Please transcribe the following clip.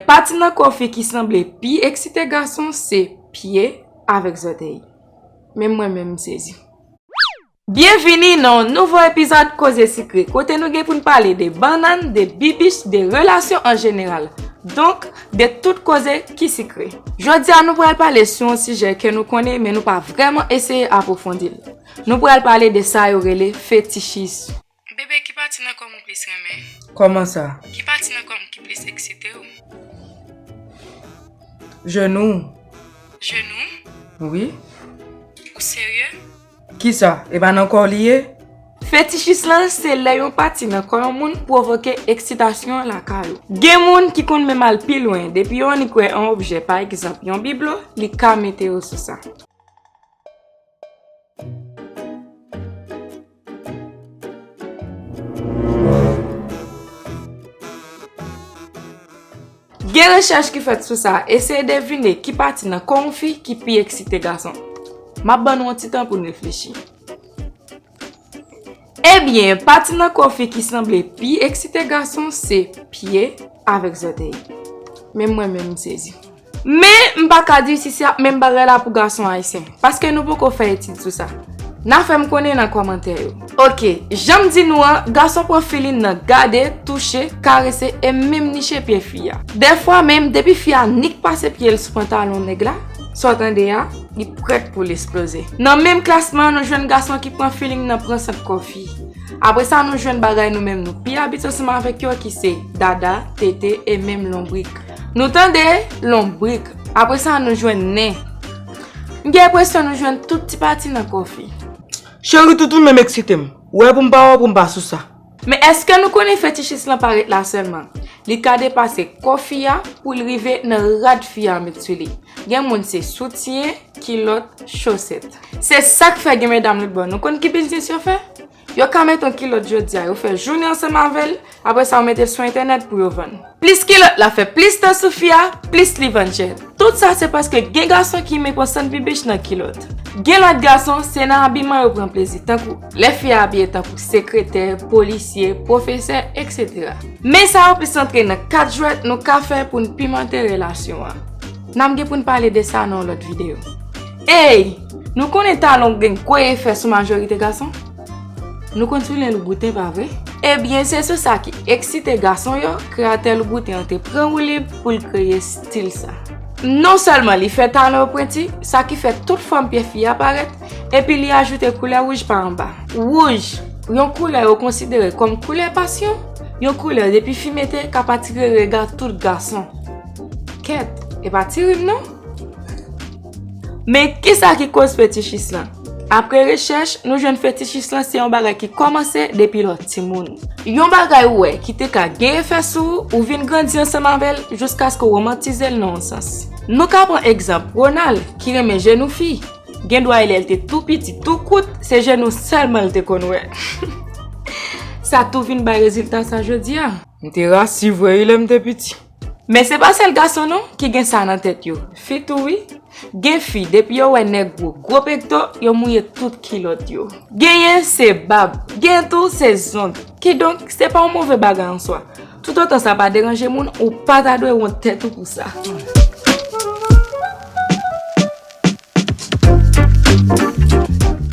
Pati nan kò fi ki sanble pi eksite gason se pye avèk zòtèy. Menm mwen menm m sezi. Byenvini nan yon nouvo epizòd Koze Sikre kote nou gen pou n pale de bannann, de bibich, de relasyon an jeneral. Donk, de tout koze ki sikre. Jodi a nou pral pale sou yon sijè ke nou konnen men nou pa vrèman eseye apwofondi l. Nou pral pale de sa yo rele fetichisme. Bebe ki pati nan kòm ou plis renmen? Kòman sa? Ki pati nan kòm ki plis eksite w? Jenou. Jenou? Wi. Ou serye? Kisa? E pa nan kò w li ye? Fetishis lan se lè yon pati nan kò yon moun pwovoke eksitasyon lakay ou. Gen moun ki konn menm al pi lwen, depi yon annik wè yon objè, pa egzanp yon biblo, li ka mete yo sou sa. Gen rechèch ki fèt sou sa, eseye devine ki pati nan kò yon fi ki pi eksite gason. M ap ban nou yon ti tan pou n reflechi. Ebyen pati nan kò fi ki sanble pi eksite gason se pye avèk zòtèy. Menm mwen menm m sezi. Men m pa ka di si se ap menm bagay la pou gason ayisyen. Paske nou poko fè etid sou sa. Na fè m konnen nan kòmantè yo. Ok, jan m di nou an, gason pran filin nan gade, touche, karese e menm niche pye fi a. Dèfwa menm depi fi a nik pase pye l sou pantalon nèg la, sa w tande a. Li prèt pou l esploze. Nan menm klasman an nou jwenn gason ki pran feeling nan pran sant kò fi. Apre sa nou jwenn bagay nou menm nou pi abitye ansanm avèk yo ki se, dada, tete e menm lonbrik. Nou tande! Lonbrik. Apre sa nou jwenn nen. M gen enpresyon nou jwenn tout ti pati nan kò fi. Cheri toutoun menm eksite m. Ou wè pou m pa wè w pou m pa sou sa. Men eske nou konnen fetichis lan pa ret la sèlman. Li ka depase kò fi a pou l rive nan rad fi a met sou li. Gen moun se soutyen, kilòt, chosèt. Se sa k fè gen medam lòt bò nou konn ki biznis yo fè? Yo ka mete yon kilòt jodi a, yo fè jounen ansanm avè l, apre sa yo mete l sou entènèt pou yo vann. Plis kilòt la fè plis tan sou fi a, plis li vann chè. Tout sa se paske gen gason ki imen pran sann bibich nan kilòt. Gen lòt gason, se nan abiman yo pran plezi, tankou lè fi a abiye tankou sekretè, polisye, pwofesè, eksetera. Men sa yo plis antre nan kad jwèt nou ka fè pou n pimante relasyon an. N ap gen pou n pale de sa nan yon lòt videyo. Ey! Nou konnen talon gen gwo efè sou majorite gason. Nou konn sou lè louboute pa vre? Ebyen se sou sa ki eksite gason yo kreyatè louboute an te pran woulib pou l kreye stil sa. Non sèlman li fè talan yo pwenti, sa ki fè tout fòm pye fi a parèt, epi li ajoute koulè wouj pa anba. Wouj, yon koulè yo konsidere kòm koulè pasyon, yon koulè depi fi mete kap atire rega tout gason. Kèt, e pa ti rim non! Men, kisa ki koz fetichis lan? Apre rechèch, nou jwenn fetichis lan se yon bagay ki kòmanse depi lè w timoun. Yon bagay ou wè ki te ka gen efè sou ou, ou vin grandi ansanm avè l jiskaske w womantize l nan yon sans. Nou ka pran egzanp Ronald, ki renmen jenou fi. Gendwa e lè l te tou piti, tou kout, se jenou sèlman l te konn wè. Sa tou vin bay rezilta sa jodi a. M te rasi vre wi lè m te piti. Men se pa sèl gason non ki gen sa nan tèt yo, fi tou wi. Gen fi depi yo wè nèg gwo, gwo pekto, yo mouye tout kilòt yo. Genyen se bab, genyen tou se zong. Kidonk, se pa yon move bagay an swa. Toutotan sa pa deranje moun, ou pa ta dwe wont tèt ou pou sa.